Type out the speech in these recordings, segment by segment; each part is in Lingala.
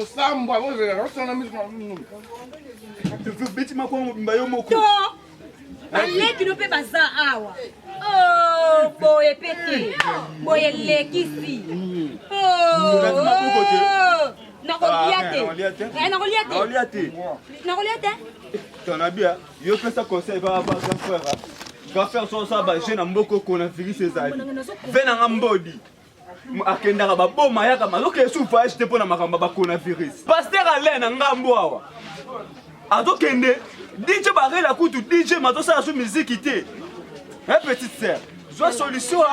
osambwa ozela osana miso beti makwango mobimba yo moko baleki no mpe baza awa oh, boye mpe te boye elekisi nakolia te nakolia te nakolia te nakolia te ton abia yo pesa conseil ba ba grand frère grand frère so sa ba jeune mboko ko na virus ezali ve na nga mbodi akendaka baboma yaka mazokende su voyage te mpo na makambo ya bacoronavirus paster alain na ngambo awa azokende dj barela kutu dj mazosala su miziki te e petite sœur zwa solution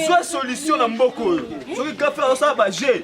zwa solution na mboka oyo soki kafe azosala baje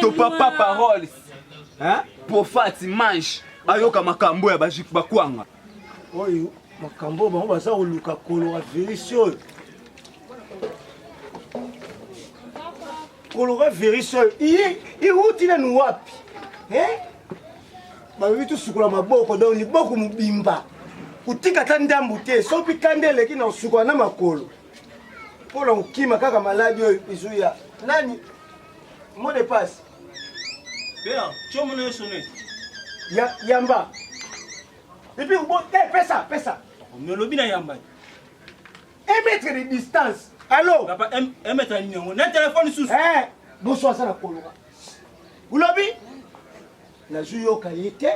to papa paroles hein profati mange ayoka makambo ya bajik bakwanga oyo makambo bango baza koluka kolora virisi oyo kolora virisi oyo iwuti nanu wapi bayobi tosukola maboko donc liboko mobimba kotika ata ndambu te soki kanda eleki na kosukola na makolo pona kokima kaka maladi oyo ezoya nani mo de passe bea tiomo na yo sone ya yamba epuis bo te eh, pesa pesa me olobi na yamba un mètre de distance allo papa un mètre ya nini yango na telefone susu eh, boso aza na koloka olobi Nazu yoka ye te.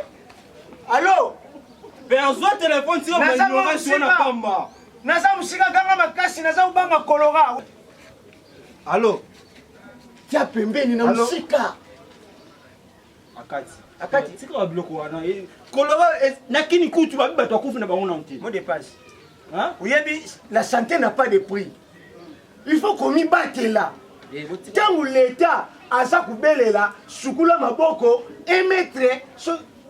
Allô? Perzo téléphone sio manyora sio na pamba. Naza musika ganga makasi naza ubanga kolora. Allô? Tia pembeni na musika. Akati. Akati tika ba biloko wana. Kolora na kini kutu ba bato akufi na bango na nte. Mo dépasse. Hein? Oyebi la santé n'a pas de prix. il faut komibatela ntango leta aza kobelela sukula maboko emetre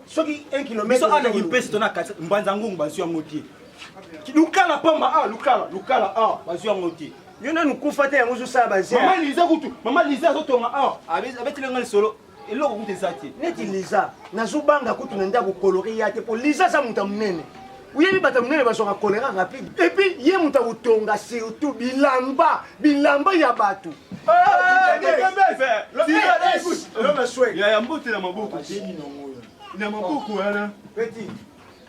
soki 1 kilometreanakipestonambanza ngungu bazwi yango te lukala pamba a ah, lukala lukala a ah, bazwi yango te yo nanu kufa te yango ozosala bazmama liza kutu mama liza azotonga a ah. abeteli ngai lisolo eloko kutu eza te neti liza nazobanga kutu na ndako kolore ya te mpo liza aza moto ya monene oyebi bato ya monene bazwaka kolera rapide epuis ye moto akotonga surtout bilamba bilamba ya bato yaya mbote na maboko na maboko wana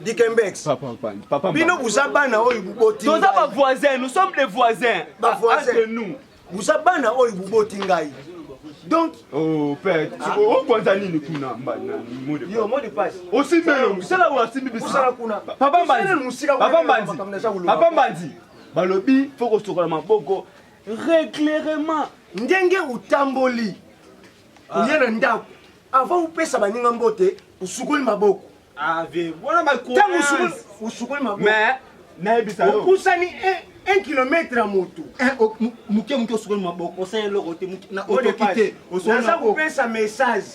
Dikembex. Papa Mpani. Papa Mpani. Bino buza bana oyo buboti. Toza ba voisins, nous sommes des voisins. Ba voisins. Entre nous. Buza bana oyo buboti ngai. Donc oh père, ah. o kwanza nini kuna mbana mode. Yo mode passe. Osi mbelo, sala wa simbi biso. Sala kuna. Papa Mbanzi. Papa Mbanzi. Papa Mbanzi. Balobi faut ko sokola maboko régulièrement. Ndenge utamboli. Oye ah. na ndako. Avant upesa baninga mbote, usukoli maboko. Ave, wana ba Tango usukoli, usukoli maboko. Mais, nayebisa yo. Opusani eh. un kilomètre ya moto eh, moke moke osukoli maboko osala eloko te na otoki te naza kopesa message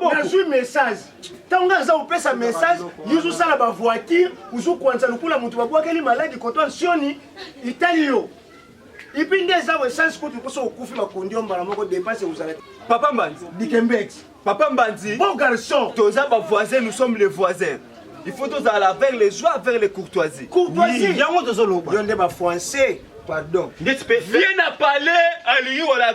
nazwi message ntango ngai aza kopesa message yuzu osala bavoitire ozokuanisa lokola moto babwakeli maladi koto ansioni itali yo Ipi nde eza we sans kutu poso okufi makondio mbala moko dépense ekozala. Papa Mbanzi. Dikembet. Papa Mbanzi. Bon garçon. Toza ba voisins, nous sommes les voisins. Il faut tozala vers les joies, vers les courtoisies. Courtoisie. Yango tozoloba. Yo nde ba français. Pardon. Nde tu peux. Viens à parler à lui ou à la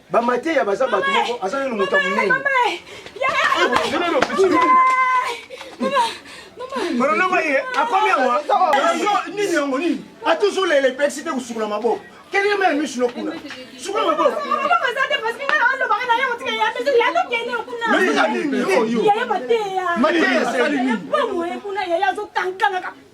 Ba mateya baza bato moko aza nanu moto ya monene. Mwana noma ye akomi awa nini yango nini atuzu lele pexi te kusukula maboko kelele mele misu no kuna sukula maboko mateya asali nini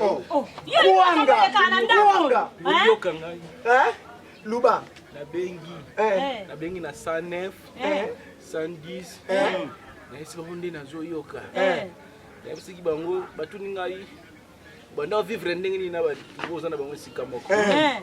Oh. Kuanga, kuanga. Boyoka ngai. Hein? Luba. Nabengi. Eh. Nabengi na 109, eh. 110. Eh. Nayesi bango nde nazoyoka. Eh. Nayebisaki bango batuni ngai banda vivre ndenge nini na bato oza na bango esika moko. Eh.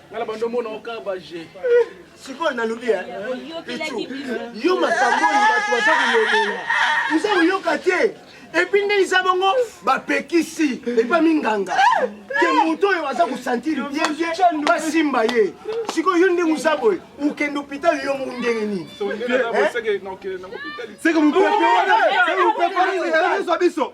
nga na bando omona oka baje sikoyo nalobi eh? pichu yo makambo oyo bato baza kolobela oza koyoka te epuis nde eza bongo bapekisi epa minganga ke moto oyo aza kosantire bienbie basimba ye sikoyo yo ndenge oza boye okende hôpital yo moko ndenge nini seke mopepe wana ezwa biso